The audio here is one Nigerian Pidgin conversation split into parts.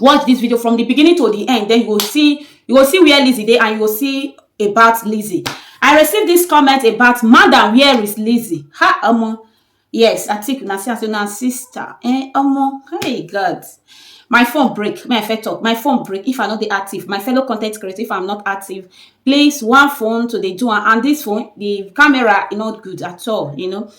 watch this video from the beginning to the end then you go see you go see where Lizzie dey and you go see about Lizzie I received this comment about madam where is Lizzie ha omo yes I think una see am say na sister eh omo hey God my phone break may I first talk my phone break if I no dey active my fellow content creator if I'm not active please one phone to dey do am and this phone the camera e not good at all you know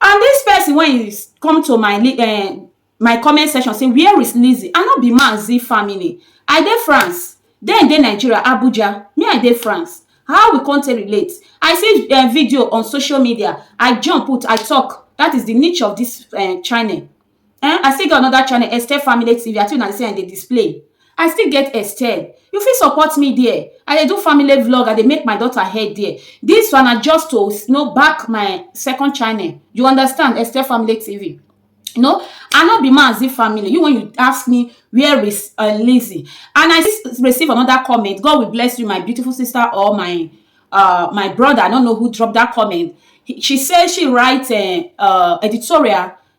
And this person when you come to my uh, my comment section say where is Lizzie? I no be man Z family. I dey France. Then dey Nigeria, Abuja. Me I dey France. How we come take relate? I see uh, video on social media. I jump put, I talk. That is the niche of this uh, channel. eh i still get another channel esther family tv i think na the same i dey display i still get esther you fit support me there i dey do family vlog i dey make my daughter head there this one na just to you know, back my second channel you understand esther family tv you know i no be mazi family you when you ask me where is uh, lizzy and i just receive another comment god will bless you my beautiful sister or my uh my brother i don't know who dropped that comment He- she said she write a uh, editorial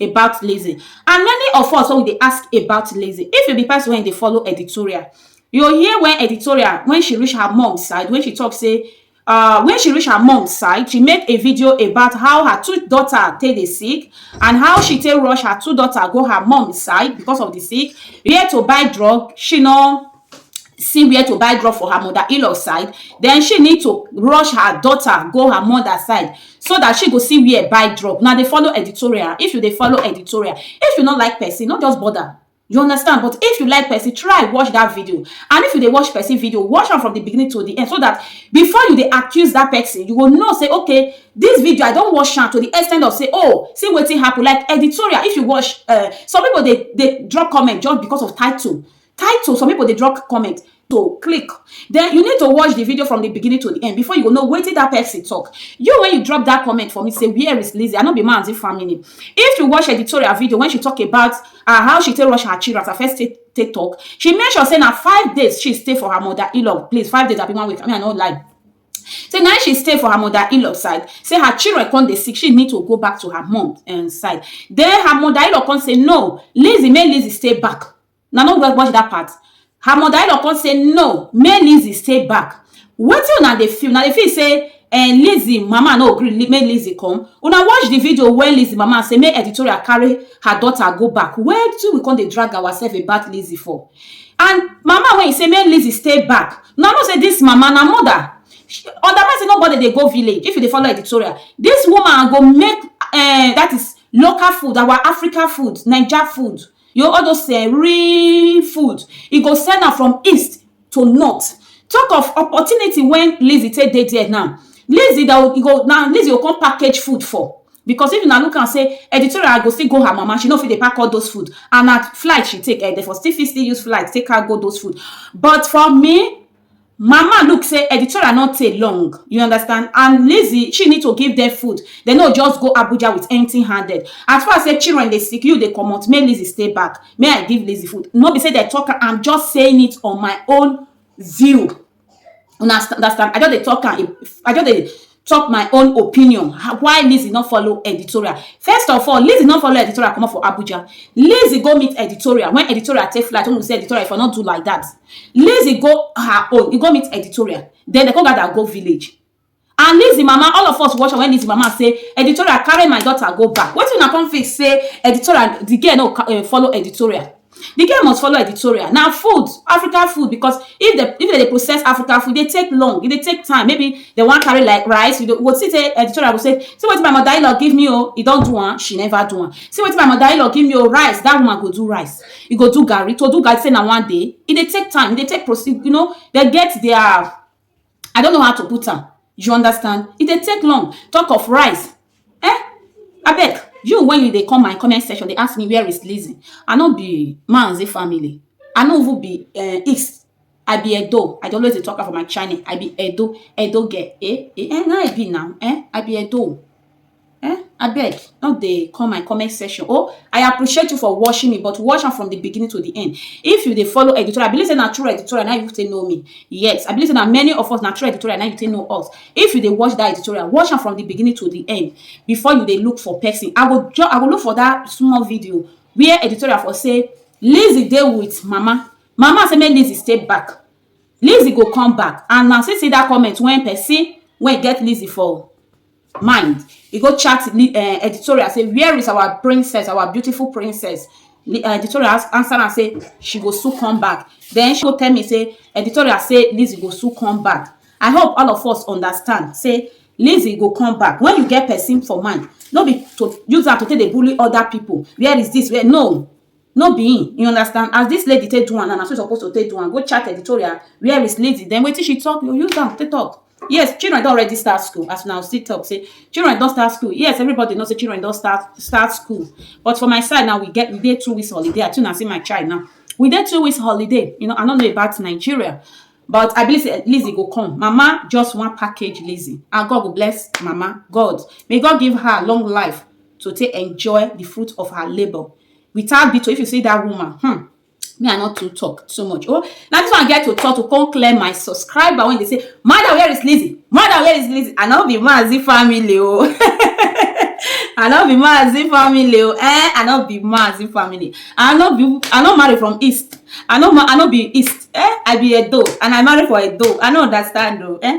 about lazy and many of us wey we dey ask about lazy if you be person wey dey follow editorial you go hear when editorial when she reach her mom side when she talk say uh when she reach her mom side she make a video about how her two daughter take dey sick and how she take rush her two daughter go her mom side because of the sick where to buy drug she no see where to buy drug for her mother in-law side then she need to rush her daughter go her mother side so that she go see where buy drug now they follow editorial if you they follow editorial if you not like person not just bother you understand but if you like person try watch that video and if you dey watch person video watch am from the beginning to the end so that before you dey accuse that person you go know say okay this video i don watch am to the extent of say oh see wetin happen like editorial if you watch uh, some people dey dey drop comment just because of title title some people dey drop comment to click then you need to watch the video from the beginning to the end before you go know wetin that person talk you when you drop that comment for me say where is Lizzie I no be manzi family if you watch editorial video when she talk about uh, how she take rush her children as her first take, take talk she make sure say na five days she stay for her mother in-law place five days abi one week I mean I no lie say na she stay for her mother in-law side say her children come dey sick she need to go back to her mom um, side then her mother in-law come say no Lizzie make Lizzie stay back una no watch that part her mother in law come say no make lizzy stay back wetin una dey feel una dey feel say um, lizzy mama no gree make lizzy come una watch the video wey lizzy mama say make editorial carry her daughter go back wetin we come dey drag ourselves about lizzy for and mama wey say make lizzy stay back una know say this mama na mother otherwise say nobody dey go village if you dey follow editorial this woman go make um, that is local food our africa food naija food you know all those eh, real food e go send am from east to north talk of opportunity when lizzy take dey there now lizzy that will- e go now lizzy go come package food for because if una look am say editorial go still go her mama she no fit dey pack all those food and na flight she take eh, they for still fit still use flight take cargo those food but for me Mama look say editorial no take long, you understand and Lizzy she need to give them food, they no just go Abuja with empty handed. As far say children dey sick you dey comot make Lizzy stay back, may I give Lizzy food no be say they talk am I'm just saying it on my own view, una understand I just dey talk am I just dey talk my own opinion how- why lizzy no follow editorial first of all lizzy no follow editorial comot for abuja lizzy go meet editorial when editorial take flight when we say editorial if i no do like that lizzy go her own e go meet editorial then dem come gather go village and lizzy mama all of us watch am when lizzy mama say editorial carry my daughter go back wetin una come feel say editorial the girl no ca- eh, follow editorial The girl must follow editorial. Na food, African food because if dem if dem dey process African food, e dey take long, e dey take time. Maybe dem wan carry like rice, you go see say editorial go say, see wetin my mother-in-law give me o, e don do am, she never do am. See wetin my mother-in-law give me o, rice, that woman go do rice, e go do garri. To do garri say na one day, e dey take time, e dey take proce you know, dem get their I don't know how to put am you understand e dey take long talk of rice eh abeg you when you dey come my comment section dey ask me where is Lizzy I no be Mazi family I no even be uh, East I be Edo I dey always dey talk am for my channel I be Edo Edo girl eh eh, eh na I be now eh I be Edo. eh abeg no dey come my comment section oh i appreciate you for watching me but watch am from the beginning to the end if you dey follow editorial i believe say na true editorial na you take know me yes i believe say na many of us na true editorial na you take know us if you dey watch that editorial watch am from the beginning to the end before you dey look for person i go ju- i go look for that small video where editorial for say lizzy dey with mama mama say make lizzy stay back lizzy go come back and na see see that comment when person wey get lizzy for mind e go chat um editorial say where is our princess our beautiful princess um editorial answer am say she go soon come back then she go tell me say editorial say Lizzy go soon come back I hope all of us understand say Lizzy go come back when you get person for mind no be to use am to take dey bully other people where is this where no No be him, you understand, as dis lady take do am now, na so you suppose to take do am, go chat editorial where is lady, then wetin she talk, you use am take talk. Yes, children don already start school as una still talk say children don start school. Yes, everybody know say children don start start school, but for my side now we get we dey two weeks holiday. I too na see my child now. We dey two weeks holiday, you know, I no know about Nigeria, but I believe say Lizzy go come. Mama just wan package Lizzy and God go bless Mama. God, may God give her long life to take enjoy the fruit of her labour. without beat if you see that woman hmm me i not to talk too much oh now this one get to talk to come clear my subscriber when they say mother where is lizzy mother where is lizzy i no be mazi family oh i no be mazi family oh eh i no be mazi family i no be i no marry from east i no i no be east eh i be a edo and i marry for a edo i no understand oh eh